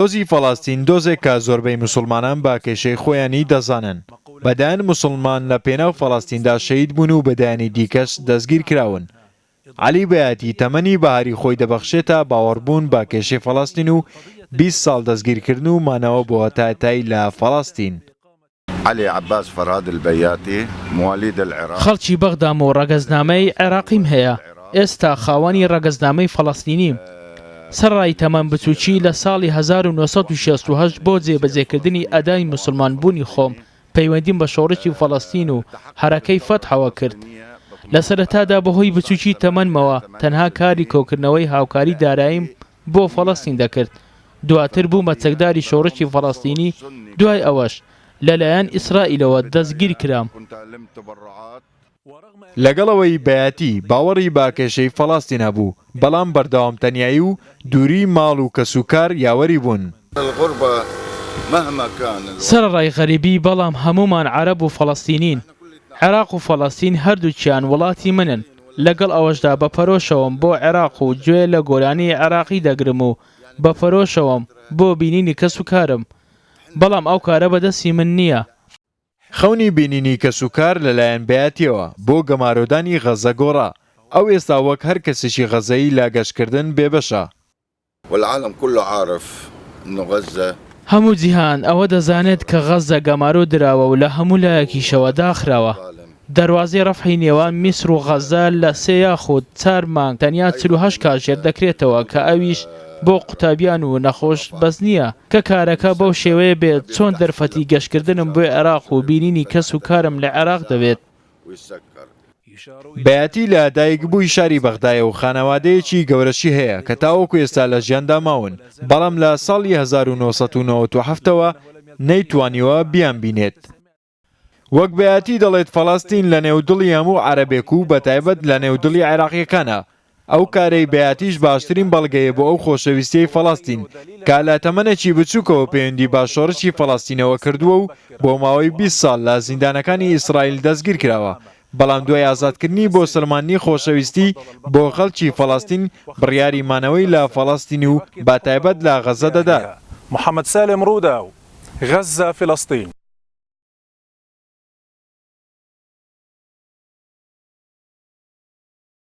دۆزی فەڵەستین دۆزێک کە زۆربەی موسڵمانان بە کێشەی خۆیانی دەزانن. بە دەیان موسڵمان لە پێناو فەڵەستیندا شەهید بوون و بە دەیانی دیکەش دەستگیر کراون. عەلی بەیاتی تەمەنی بەهاری خۆی دەبەخشێتە باوەڕبوون بە کێشەی فەڵەستین و بیست ساڵ دەستگیرکردن و مانەوە بۆ تای تای لە فەڵەستین. عەلی عەباس فەرهاد البەیاتی موالیدە العراق. خەڵکی بەغدام و ڕەگەزنامەی عێراقیم هەیە، ئێستا خاوەنی ڕەگەزنامەی فەڵەستینیم. سەرەڕای تەمەن بچووکی، لە ساڵی هەزار و نۆ سەد و شەست و هەشت بۆ جێبەجێکردنی ئەدای موسڵمان بوونی خۆم پەیوەندیم بە شۆڕشی فەڵەستین و حەرەکەی فەتحەوە کرد. لە سەرەتادا بەهۆی بچووکی تەمەنمەوە تەنها کاری کۆکردنەوەی هاوکاری داراییم بۆ فەڵەستین دەکرد، دواتر بوومە چەکداری شۆڕشی فەڵەستینی، دوای ئەوەش لەلایەن ئیسرائیلەوە دەستگیرکرام. لەگەڵ ئەوەی بەیاتی باوەڕی بە کێشەی فەڵەستین هەبوو، بەڵام بەردەوام تەنیایی و دووریی ماڵ و کەسوکار یاوەری بوون. سەرەڕای غەریبی، بەڵام هەموومان عەرەب و فەڵەستینین. عێراق و فەڵەستین هەردووکیان وڵاتی منن. لەگەڵ ئەوەشدا بە پەرۆشەوەم بۆ عێراق و گوێ لە گۆرانیی عێراقی دەگرم و بە پەرۆشەوەم بۆ بینینی کەسوکارم، بەڵام ئەو کارە بەدەستی من نییە. خەونی بینینی کەسوکار لەلایەن بەیاتییەوە بۆ گەمارۆدانی غەززە گۆڕا، ئەو ئێستا وەک هەر کەسێکی غەززەیی لە گەشتکردن بێبەشە. والعالم كله عارف انه غزة. هەموو جیهان ئەوە دەزانێت کە غەززە گەمارۆ دراوە و لە هەموو لایەکیشەوە داخراوە. دەروازەی ڕەفحی نێوان میسر و غەززە لە سێ یاخود چار مانگ تەنیا چل و هەشت کاژێر دەکرێتەوە کە ئەویش بۆ قوتابیان و نەخۆش بەس نییە کە کارەکە بەو شێوەیە بێت چۆن دەرفەتی گەشتکردنم بۆ عێراق و بینینی کەس و کارم لە عێراق دەبێت بەیاتی لە دایک بووی شاری بەغدایە و خانەوادەیەکی گەورەشی هەیە کە تاوەکو ئێستا لە ژیاندا ماون، بەڵام لە ساڵی هەزار و نۆ سەد و نەوەد و حەفت ەوە نەیتوانیوە بیانبینێت. وەک بەیاتی دەڵێت فەڵەستین لەنێو دڵی هەموو عەرەبێک و بەتایبەت لەنێو دڵی عێراقییەکانە، ئەو کارەی بەیاتیش باشترین بەڵگەیە بۆ ئەو خۆشەویستیەی فەڵەستین کا لە تەمەنێکی بچوکەوە پەیوەندی با شۆرشی فەڵەستینەوە کردووە و بۆ ماوەی بیست ساڵ لە زیندانەکانی ئیسرائیل دەستگیر کراوە بەڵام دوای ئازادکردنی بۆ سەلماندنی خۆشەویستی بۆ خەڵکی فەڵەستین بڕیاری مانەوەی لە فەڵەستین و بە تایبەت لە غەزە دەدات. محەمەد سالم رووداو، غەززە، فلسطین.